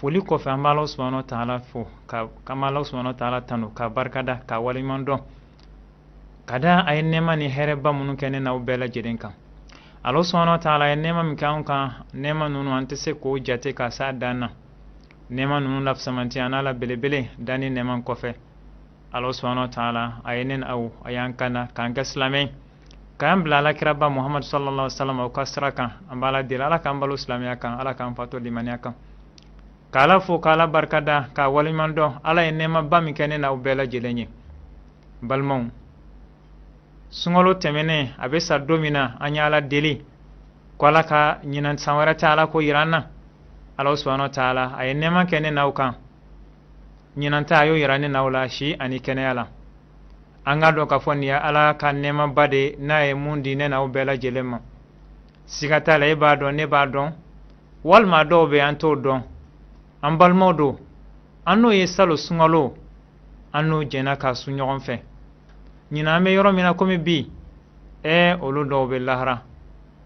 foli kɔfɛ an b'ala subahana taala fo ka k'an b'ala subahana taala tanu k'a barika da k'a waleɲuman dɔn ka da a ye nɛɛma ni hɛrɛba minnu kɛ ne n'aw bɛɛ lajɛlen kan ala subahana taala a ye nɛɛma min kɛ anw kan nɛɛma ninnu an tɛ se k'o jate ka s'a dan na nɛɛma ninnu lafisamanti an'a la belebele danni nɛɛma kɔfɛ ala subahana taala a ye ne n'aw a y'an kanda k'an kɛ silamɛ k'an bila ala kiraba muhamadu sallallahu salam o ka sira kan an b'ala deli ala k'an balo silamɛya kan ala k'an fatu limaniya kan k'ala fo k'ala barika da k'a waleɲuman dɔn ala ye nɛɛmaba min kɛ ne n'aw bɛɛ lajɛlen ye balimaw sunkalo tɛmɛnen a bɛ sa don min na an ye ala deli ko ala ka ɲinan san wɛrɛ ta ala k'o yira an na ala subahana taala a ye nɛɛma kɛ ne n'aw kan ɲinan ta a y'o yira ne n'aw la si ani kɛnɛya la an k'a dɔn k'a fɔ nin ye ala ka nɛɛmaba de n'a ye mun di ne n'aw bɛɛ lajɛlen ma siga t'a la e b'a dɔn ne b'a dɔn walima dɔw bɛ an t'o dɔn an balimaw don an n'o ye salon sunkalo an n'o jɛnna k'a sun ɲɔgɔn fɛ ɲinan an bɛ yɔrɔ min na komi bi ɛɛ olu dɔw bɛ lahara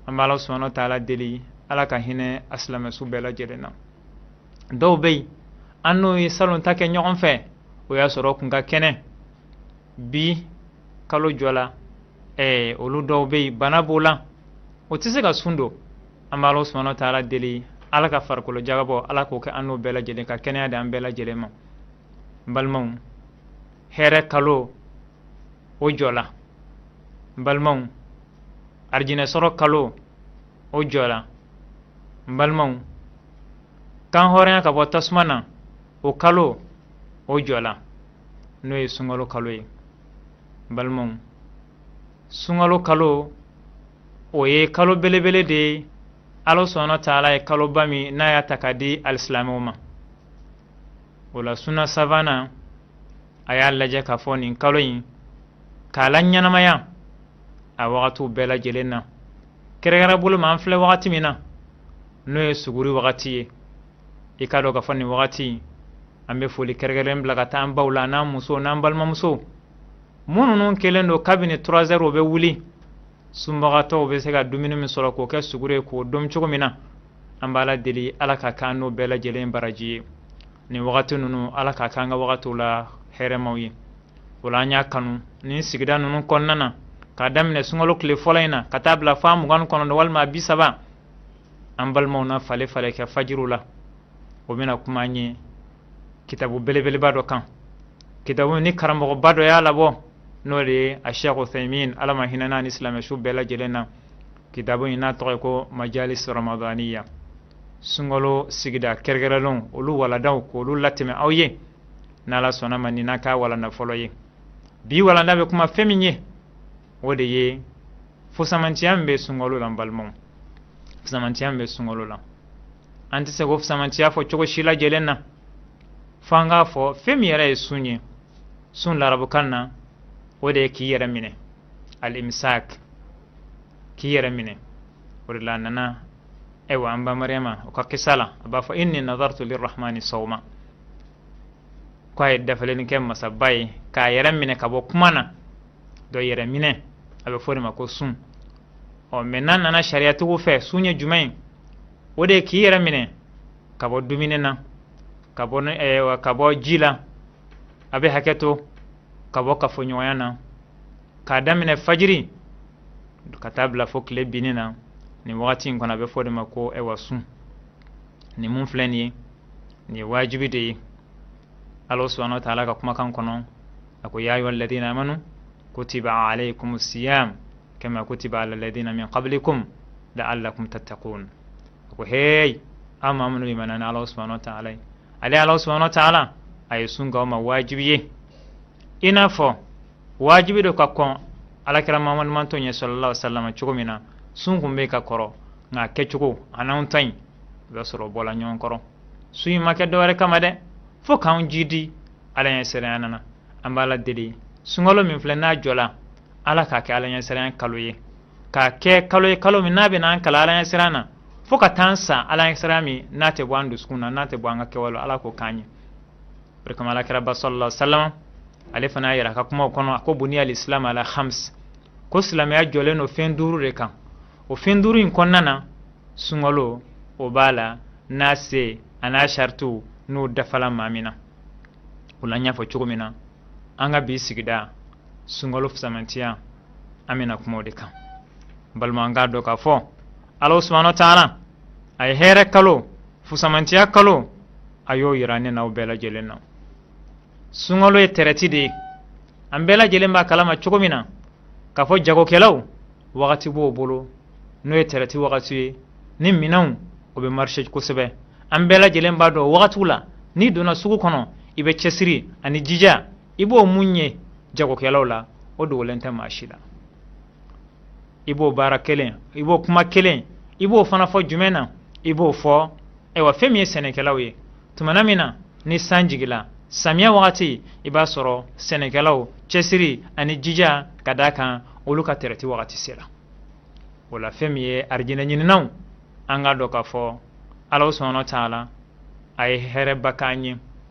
an bɛ ala subahana taala deli ala ka hinɛ a silamɛsu bɛɛ lajɛlen na dɔw bɛ yen an n'o ye salon ta kɛ ɲɔgɔn fɛ o y'a sɔrɔ kun ka kɛnɛ bi kalo jɔla ɛɛ olu dɔw bɛ yen bana b'o la o tɛ se ka sun don an b'ala subahana taala deli ala ka farikolo jagabɔ ala k'o kɛ an n'o bɛɛ lajɛlen ka kɛnɛya di an bɛɛ lajɛlen ma n balimaw hɛrɛ kalo o jɔla n balimaw arijinɛ sɔrɔ kalo o jɔla n balimaw kan hɔrɔnya ka bɔ tasuma na o kalo o jɔla n'o ye sunkalo kalo ye n balimaw sunkalo kalo o ye kalo belebele de ye ala subahana taala ye kaloba min n'a y'a ta k'a di alisilamɛw ma o la sunna savana a y'a lajɛ k'a fɔ nin kalo in k'a laɲɛnamaya a wagatiw bɛɛ lajɛlen na kɛrɛkɛrɛ bolo ma an filɛ wagati min na n'o ye suguri wagati ye i k'a dɔn k'a fɔ nin wagati an bɛ foli kɛrɛkɛrɛn bila ka taa an baw la n'an musow n'an balimamusow minnu kɛlen don kabini trois heures o bɛ wuli sunbagatɔw bɛ se ka dumuni min sɔrɔ k'o kɛ suguri ye k'o dom cogo min na an b'ala deli ala k'a k'an n'o bɛɛ lajɛlen baraji ye nin wagati ninnu ala k'a k'an ka wagatiw la hɛrɛmaw ye o la an y'a kanu nin sigida ninnu kɔnɔna na k'a daminɛ sunkalo tile fɔlɔ in na ka taa bila fo mugan kɔnɔntɔn walima bi saba an balimaw na falen falen kɛ fajiriw la o bɛna kuma an ye kitabu belebeleba dɔ kan kitabu nin karamɔgɔba dɔ y'a labɔ n'o de ye a sheikh uthaymin ala ma hinɛn'a ni silamɛsu bɛɛ lajɛlen na kitabu in n'a tɔgɔ ye ko majalis ramadaniya sunkalo sigida kɛrɛkɛrɛnlenw olu walandaw k'olu latɛmɛ aw ye n'ala sɔnna ma nin na k'a walanda fɔlɔ ye bi walanda bɛ kuma fɛn min ye o de ye fusamantiya min bɛ sunkalo la n balimaw fusamantiya min bɛ sunkalo la an tɛ se k'o fusamantiya fɔ cogo si lajɛlen na fo an k'a fɔ fɛn min yɛrɛ ye sun ye sun larabukan na o de ye k'i yɛrɛ minɛ al-imsak k'i yɛrɛ minɛ o de la a nana ayiwa an ba mariyama o ka kisa la a b'a fɔ inni nadartu lirahmani sawma ko a ye dafalenni kɛ masaba ye k'a yɛrɛ minɛ ka bɔ kuma na dɔ yɛrɛ minɛ a bɛ fɔ de ma ko sun ɔ mɛ n'an nana sariyatigiw fɛ sun ye jumɛn ye o de ye k'i yɛrɛ minɛ ka bɔ dumuni na ka bɔ ji la a bɛ hakɛ to ka bɔ kafoɲɔgɔnya na k'a daminɛ fajiri ka taa bila fo tile binni na nin wagati in kɔnɔ a bɛ fɔ de ma ko ɛwa sun nin min filɛ nin ye nin ye wajibi de ye ala subahana wa taala ka kumakan kɔnɔ a ko ya ayuha alladina amanu kutiba alaykum siyam kama kutiba ala alladina min qablikum la'allakum tattaqun a ko hey aw maa minnu limana ni ala subahana wa taala ye ale ala subahana wa taala a ye sun k'aw ma wajibi ye i n'a fɔ wajibi don ka kɔn alakira mamadu mantɔn ɲɛ sallallahu alaihi wasallam cogo min na sun kun bɛ ka kɔrɔ nka kɛcogo a n'anw ta in i b'a sɔrɔ bɔla ɲɔgɔn kɔrɔ sun in ma kɛ dɔwɛrɛ kama dɛ fo k'anw jidi ala ɲɛ siranya na an b'ala deli sunkalo min filɛ n'a jɔla ala k'a kɛ ala ɲɛ siranya kalo ye k'a kɛ kalo ye kalo min n'a bɛna an kalan ala ɲɛ siranya na fo ka taa an sa ala ɲɛ siranya min n'a tɛ bɔ an dusukun na n'a tɛ bɔ an ka kɛwale ala k'o k'an ye o de kama alakiraba sallallahu alaihi wasallam ale fana y'a yira a ka kumaw kɔnɔ a ko buniya alislam ala khams ko silamɛya jɔlen don fɛn duuru de kan o fɛn duuru in kɔnɔna na sunkalo o b'a la n'a se a n'a saritiw n'o dafala maa min na o la n y'a fɔ cogo min na an ka bi sigida sunkalo fisamantiya an bɛna kuma o de kan balima an k'a dɔn k'a fɔ ala subahana wa taala a ye hɛrɛ kalo fusamantiya kalo a y'o yira ne n'aw bɛɛ lajɛlen na sunkalo ye tɛrɛti de ye an bɛɛ lajɛlen b'a kalama cogo min na k'a fɔ jagokɛlaw wagati b'o bolo n'o ye tɛrɛti wagati ye ni minɛnw o bɛ marise kosɛbɛ an bɛɛ lajɛlen b'a dɔn wagatiw la n'i donna sugu kɔnɔ i bɛ cɛsiri ani jija i b'o min ye jagokɛlaw la o dogolen tɛ maa si la i b'o baara kelen i b'o kuma kelen i b'o fana fɔ jumɛn na i b'o fɔ ayiwa fɛn min ye sɛnɛkɛlaw ye tumana min na ni san jigila samiya wagati i b'a sɔrɔ sɛnɛkɛlaw cɛsiri ani jija ka d'a kan olu ka tɛrɛti wagati sela wala fɛn min ye arijinɛ ɲininaw an k'a dɔn k'a fɔ ala subhanahu wa ta'ala a ye hɛrɛba k'an ye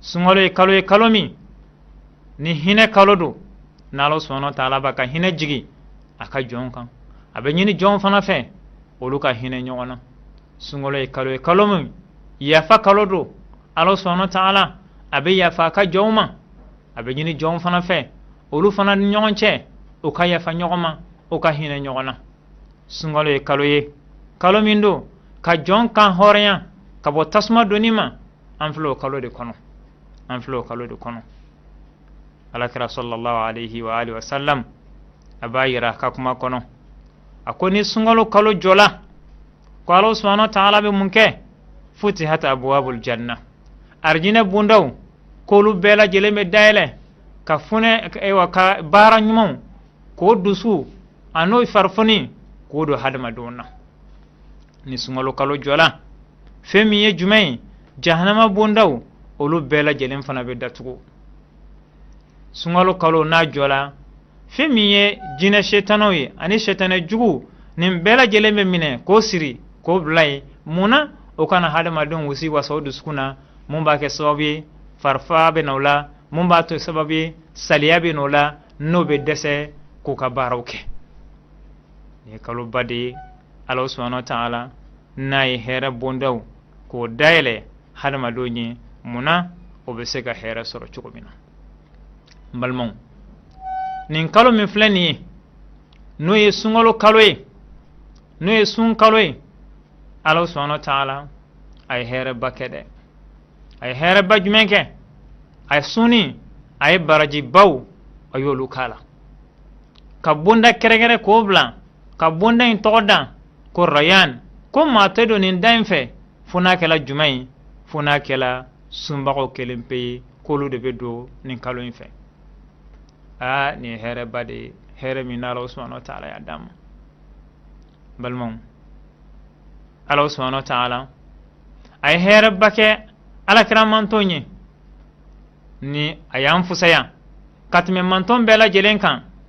sunkalo ye kalo ye kalo min ni hinɛ kalo don n'ala subhanahu wa ta'ala b'a ka hinɛ jigin a ka jɔnw kan a bɛ ɲini jɔnw fana fɛ olu ka hinɛ ɲɔgɔn na sunkalo ye kalo ye kalo min yafa kalo don ala subhanahu wa ta'ala a bɛ yafa a ka jɔnw ma a bɛ ɲini jɔnw fana fɛ olu fana ni ɲɔgɔn cɛ u ka yafa ɲɔgɔn ma u ka hinɛ ɲɔgɔn na sunkalo ye kalo ye kalo min don ka jɔn kan hɔrɔnya ka bɔ tasuma donni ma an filɛ o kalo de kɔnɔ an filɛ o kalo de kɔnɔ alakira sallallahu alaihi wa alihi wa sallam a b'a yira ka kuma kɔnɔ a ko ni sunkalo kalo jɔla ko ala subhanahu wa ta'ala bɛ mun kɛ futihat abwabul janna arjinɛ bundaw k'olu bɛɛ lajɛlen bɛ dayɛlɛ ka funɛ ayiwa ka baara ɲumanw k'o dusu an'o farifoni k'o don hadamadenw na ni sunkalo kalo jɔla fɛn min ye jumɛn ye jahanama bondaw olu bɛɛ lajɛlen fana bɛ datugu sunkalo kalo n'a jɔla fɛn min ye jinɛ setanɛw ye ani setanɛ juguw nin bɛɛ lajɛlen bɛ minɛ k'o siri k'o bila yen mun na o kana hadamadenw wusiwasa o dusukun na mun b'a kɛ sababu ye farifa bɛ na o la mun b'a to sababu ye saliya bɛ na o la n'o bɛ dɛsɛ k'u ka baaraw kɛ nin ye kaloba de ye ala subhanahu wa ta'ala n'a ye hɛrɛ bondaw k'o dayɛlɛ hadamadenw ye mun na o bɛ se ka hɛrɛ sɔrɔ cogo min na balimaw nin kalo min filɛ nin ye n'o ye sunkalo kalo ye n'o ye sun kalo ye ala subhanahu wa ta'ala a ye hɛrɛba kɛ dɛ a ye hɛrɛba jumɛn kɛ a ye sunni a ye barajibaw a y'olu k'a la ka bonda kɛrɛkɛrɛ k'o bila ka bonda in tɔgɔ da ko rayan ko maa tɛ don nin da in fɛ fo n'a kɛla jumɛn ye fo n'a kɛla sunbagaw kelen pe ye k'olu de bɛ don nin kalo in fɛ aa nin ye hɛrɛba de ye hɛrɛ min na ala subhanahu wa ta'ala y'a d'an ma balimaw ala subhanahu wa ta'ala a ye hɛrɛba kɛ alakira mantɔn ye ni a y'an fusaya ka tɛmɛ mantɔn bɛɛ lajɛlen kan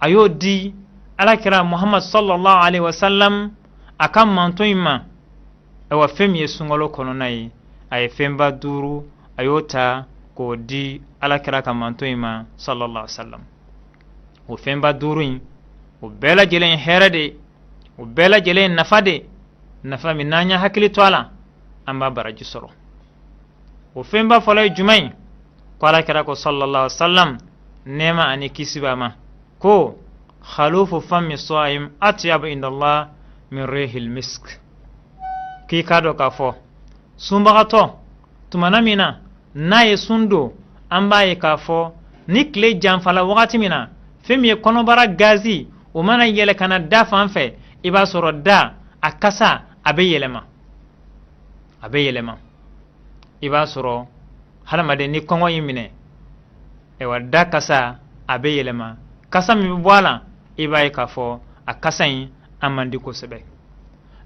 a y'o di alakira muhammad sallallahu alaihi wasallam a ka mantɔn in ma ayiwa fɛn min ye sunkalo kɔnɔna ye a ye fɛnba duuru a y'o ta k'o di alakira ka mantɔn in ma sallallahu alaihi wasallam o fɛnba duuru in o bɛɛ lajɛlen hɛrɛ de o bɛɛ lajɛlen nafa de nafa min n'an y'a hakili to a la an b'a baraji sɔrɔ o fɛnba fɔlɔ ye jumɛn ye ko alakira ko sallallahu alaihi wasallam nɛɛma ani kisi b'a ma ko khalufu fami saim atyabu indallah min rihil misk k'i k'a dɔn k'a fɔ sunbagatɔ tumana min na n'a ye sun don an b'a ye k'a fɔ ni tile janfala wagati min na fɛn min ye kɔnɔbara gazi o mana yɛlɛ ka na da fan fɛ i b'a sɔrɔ da a kasa a bɛ yɛlɛma a bɛ yɛlɛma i b'a sɔrɔ hadamaden ni kɔngɔ y'i minɛ ayiwa da kasa a bɛ yɛlɛma kasa min bɛ bɔ a la i b'a ye k'a fɔ a kasa in a man di kosɛbɛ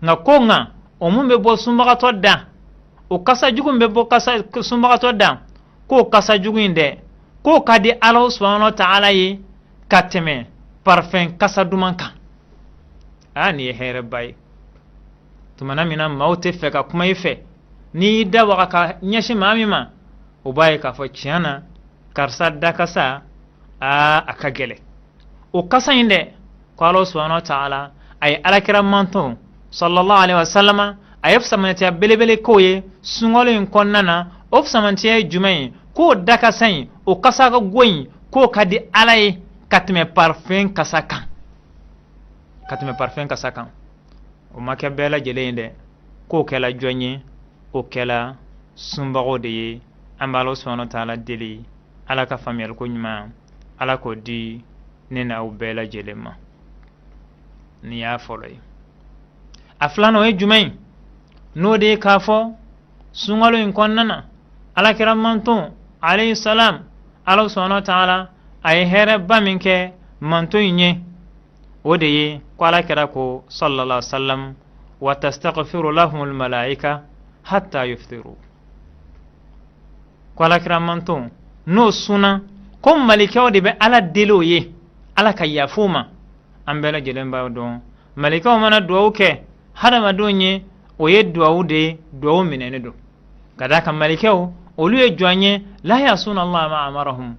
nka ko nka o mun bɛ bɔ sunbagatɔ da o kasa jugu min bɛ bɔ kasa sunbagatɔ da k'o kasa jugu in dɛ k'o ka di ala subahana wa taala ye ka tɛmɛ parfɛn kasa duman kan aa nin ye hɛrɛba ye tumana min na maaw tɛ fɛ ka kuma i fɛ n'i y'i da waga ka ɲɛsin maa min ma o b'a ye k'a fɔ tiɲɛ na karisa dakasa aa a ka gɛlɛn o kasa in dɛ ko ala subahana wa taala a ye alakira mantɔn sallallahu alaihi wasallama a ye fisamantiya belebele k'o ye sunkalo in kɔnɔna na o fisamantiya ye jumɛn ye k'o dakasa in o kasa ka go in k'o ka di ala ye ka tɛmɛ parfɛn kasa kan ka tɛmɛ parfɛn kasa kan o ma kɛ bɛɛ lajɛlen ye dɛ k'o kɛla jɔn ye o kɛla sunbagaw de ye an b'ala subahana wa taala deli ala ka faamuyaliko ɲuman ala k'o di ne n'aw bɛɛ lajɛlen ma nin y'a fɔlɔ ye a filan o ye jumɛn ye n'o de ye k'a fɔ sunkalo in kɔnɔna na alakira mantɔn alayhi salam ala subahana wa taala a ye hɛrɛba min kɛ mantɔn in ye o de ye ko alakira ko sallallahu sallam wa tastaghfiru lahum almalaika hatta yuftiru ko alakira mantɔn n'o sunna ko malikɛw de bɛ ala deli o ye ala ka yafa o ma an bɛɛ lajɛlen b'a dɔn malikɛw mana duwawu kɛ hadamadenw ye o ye duwawu de ye duwawu minɛnen don ka d'a kan malikɛw olu ye jɔn ye la yasuna allah ma amarahum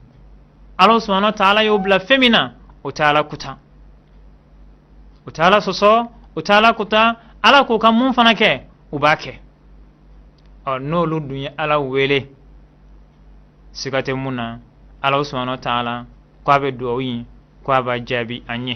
ala subahana wa taala y'u bila fɛn min na u tɛ ala kuta u tɛ ala sɔsɔ u tɛ ala kuta ala k'u ka mun fana kɛ u b'a kɛ ɔ n'olu dun ye ala wele siga tɛ mun na ala subahana wa taala ko a bɛ dugawu in ko a b'a jaabi an ye